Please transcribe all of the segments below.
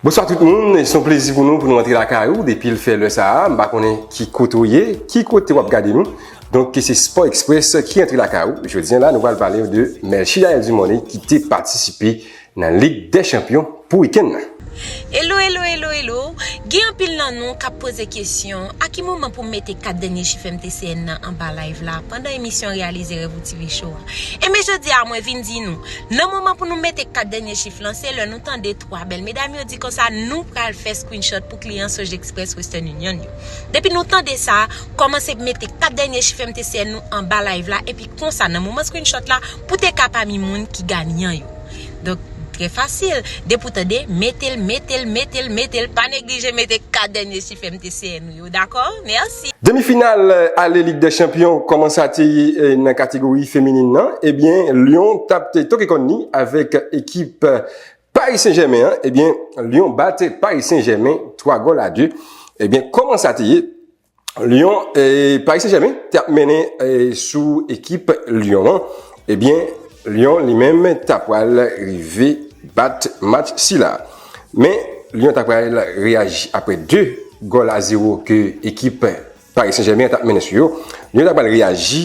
Bonswa tout moun, son plezi pou nou pou nou antre la kay ou depi l fè lè sa a, m pa konnen ki kote ou ye, ki kote w ap gade nou. Donk ke se Sport Express ki antre la kay ou, jodi an la nou pral pale w de Melchie Yael Dumornay ki te patisipe. Nan lig dè chanpyon pou wikenn nan. Elo elo elo elo, gen anpil nan nou kap poze kesyon a ki moman pou m mete 4 dènye chif MTCN nan anba live la pandan emisyon reyalize rèv ou TV show a. Enben jodi a mwen vin di nou, nan moman pou nou mete 4 dènye chif lan se lè nou tande 3 bèl medam yo di konsa nou pral fè screenshot pou kliyan Sojexpress Western Union yo. Depi nou tande sa, kòmanse mete 4 dènye chif MTCN nou anba live la epi konsa nan moman screenshot la pou te ka pami moun ki ganyan yo. Donk, trè fasil. Depi w tande, mete l, mete l, mete l, mete l. Pa neglije mete 4 dènye chif MTCN ou yo. Dakò? Mèsi! Demi final ale lig dè chanpyon kòman sa te ye nan kategori feminin nan ebyen Lyon tap te toke kòn li avèk ekip Paris Saint Germain an ebyen Lyon bat Paris Saint Germain 3 gòl a 2 ebyen kòman sa te ye Lyon, eh, Paris Saint-Germain te ap mennen eh, sou ekip Lyon an, ebyen eh Lyon li menm ta pral rive bat match sila. Men Lyon ta pral reyaji apre 2 gol a 0 ke ekip Paris Saint-Germain an ta ap mennen sou yo. Lyon ta pral reyaji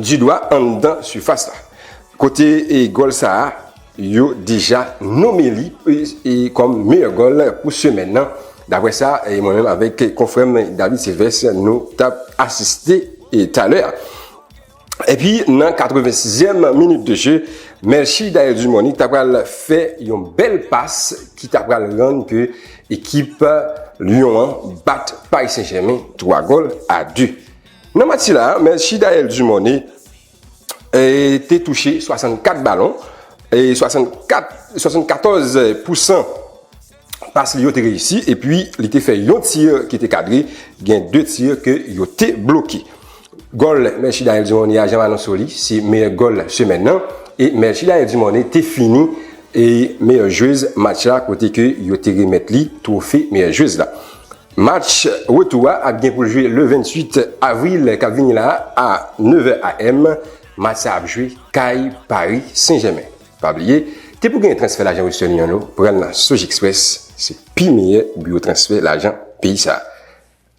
Di dwa anndan sifas la. Kote gòl sa a, yo deja nome li kòm meyè gòl pou semèn nan, daprè sa mwen menm avèk konfrè m David Sylvès nou t ap asiste talè a. Epi nan 86 zièm minit de je, Melchie Dael Dumorny ta pral fè yon bèl pas ki ta pral rann ke ekip Lyon an bat Paris Saint Germain 3 gòl a 2. Nan match sila, men Chidael Dumornay te touche 64 balon, 74 pousan pas li yo te reyisi, epi li te fè yon tir ki te kadre, gen 2 tir ke yo te bloke. Gòl men Chidael Dumornay a, jan m anonse w li, se meyè gòl semèn nan, e men Chidael Dumornay te fini meyè jwez match la kote ke yo te remèt li twofe meyè jwez la. Match retou a ap gen pou l jwe le 28 avril k ap vini la a 9 è AM. Match sa ap jwe kay Pari Sen Jèmen. Pa bliye, te pou genyen transfè lajan Western Union yo pran nan Sojexpress, se pi meyè biwo transfè lajan peyi sa.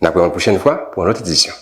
N ap wè w yon pwochèn fwa pou yon lòt edisyon.